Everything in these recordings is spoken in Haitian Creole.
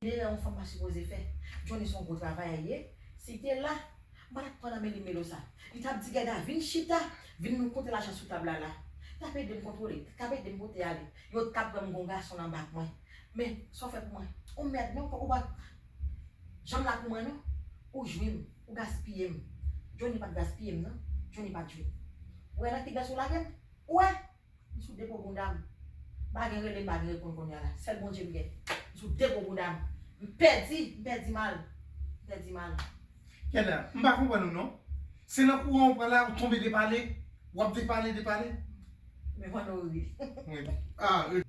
Erè yon fanm pa sipoze fè. Johnny son gwo travayè ye, si te la, m pa tap pran nan men li melo sa. Li tap di Guèda vin chita, vin nou konte lajan sou tab la la. Tap edem kontwole, tap edem pote ale. Yo tap wèm gon gason nan bak mwen. Men, sa w fè pou mwen? Ou mèd non, ou pa janm la pou mwen non. Ou jwi m, ou gaspiye m. Johnny pat gaspiye m non, Johnny pat jwi m. Ou wè nan ki dwèt ou lage m? Ou wè? M sou depo bounda m. Pa gen rele m pa gen reponn kounye a la. Sèl Bondye m gen. M sou depo bounda m. M pèdi, m pèdi mal. M pèdi mal. Gade a, m pa konprann ou non. Se nan kouran ou pran la, ou tonbe depale, ou ap depale, depale. Mwen wè w ri. Mwen ri.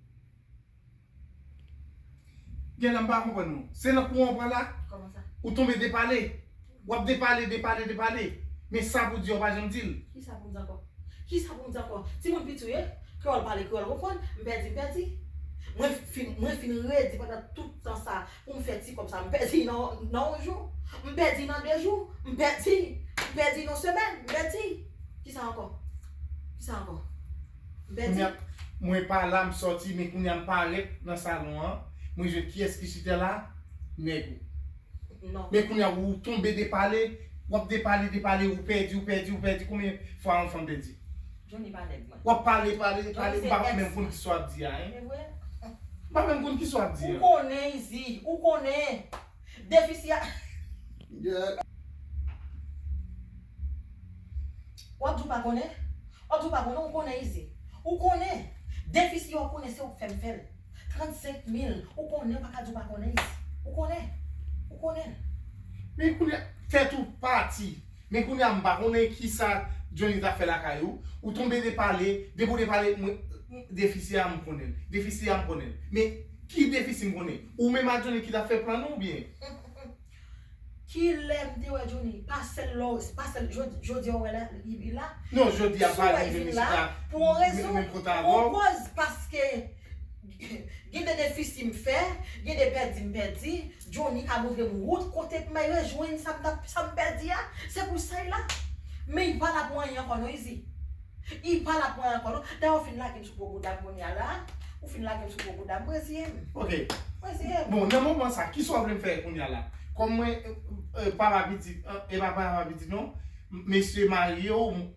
Genlè m pa konprann ou. Se nan kouran ou pran la? Kouman sa? Ou tonbe depale. W ap depale, depale, depale. Men sa pou di a ou pa janm di l. Ki sa pou m di ankò? Ki sa pou m di ankò? Timoun piti ou ye? Kreyòl pale, kreyòl konprann. M pèdi, m pèdi. Mwen fin, mwen fin redi pandan tout tan sa a pou m fè ti kòb sa a. M pèdi nan yon, nan yon jou. M pèdi nan de jou. M pèdi. M pèdi nan yon semèn. M pèdi. Ki sa ankò? Ki sa ankò? Kounya mwen pa la m sòti men kounya m parèt nan salon an mwen jwenn kiyès ki chita la nèg ou men kounya ou tonbe depale wap depale depale ou pèdi ou pèdi ou pèdi konbyen fwa yon fanm pèdi wap pale pale pale m pa menm konn kisa wap di a hein m pa menm konn kisa wap di a. Ou konnen izi ou konnen. Depi si a. Wap di w pa konnen? Wap di w pa konnen ou konnen izi. Ou konnen. Depi si a ou konnen se ou k fè m fè l. 35 mil ou konnen ou pa ka di w pa konnen izi. Ou konnen. Ou konnen. Men kounye a tèt ou pati. Men kounye a m pa konnen kisa Johnny ta fè lakay ou. Ou tonbe depale. Depi ou depale mwen. Defi si a m konnen l. Defi si a m konnen l. Men ki defi si m konnen. Ou menm a Johnny ki tap fè plan nou ou byen? Kilè m te wè Johnny? Pa sèl lè w, pa sèl jodi a ou wè la, li la. Non jodi a m pa jwenn Johnny chita menm kont avè w. Pou yon rezon, pou yon kòz paske gen de defisi m fè, gen de pèdi m pèdi, Johnny ka montre m wout kote pou m al rejwenn sa m ta, sa m pèdi a. Se pou sa y la. Men y pa la pou anyen ankò non Izi. Y pa la pou anyen ankò non. Dayè w fin lage m. Gwo bouda kounya la. Ou fin lagem sou gwo boudam m reziyem. Ok. M reziyem. Bon nan moman sa kisa w vle m fè kounya la? Kòm mwen e papa pitit e pa papa pitit non mesye marye w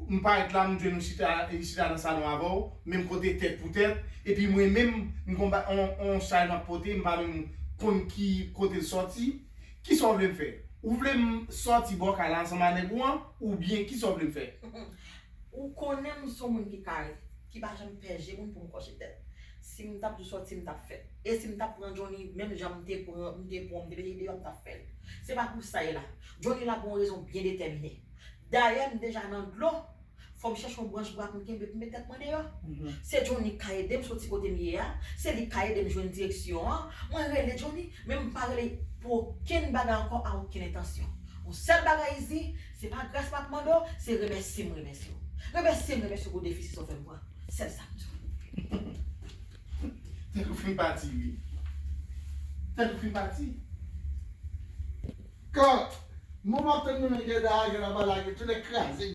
m parèt la m jwenn ou chita chita nan salon avè w menm kote tèt pou tèt epi mwen menm m gon ba on chay m ap pote m pa menm konn ki kote l sòti kisa w vle m fè? Ou vle m sòti bò kay la ansanm a nèg ou an oubyen kisa w vle m fè? Ou konnen m son moun ki kare, ki pa janm fè je moun pou m kòche tèt. Si m t ap sou sòti m t ap fè l. E si m t ap pran Johnny menm jan m te pran m te pran w m te mete l deyò m t ap fè l. Se pa pou sa e la. Johnny la pou yon rezon byen detèmine. Dayè m deja nan dlo, fò m chèche yon branch bwa pou m kenbe pou m met tèt mwen deyò. Se Johnny k ka ede m soti kote m ye a, se li k ka ede m jwenn direksyon an. Mwen rele Johnny, men m pa rele pou okenn bagay ankò a okenn entansyon. Yon sèl bagay Izi, Se pa gras map mande w, se remèsye m remèsye w. Remèsye m remèsye w pou desizyon w fè m pran. Sèl sa m di w. Tèt ou fin pati ui. Tèt ou fin pati. Kant, moman tann nou menm Guedar a gen laba lage tou nèt kraze.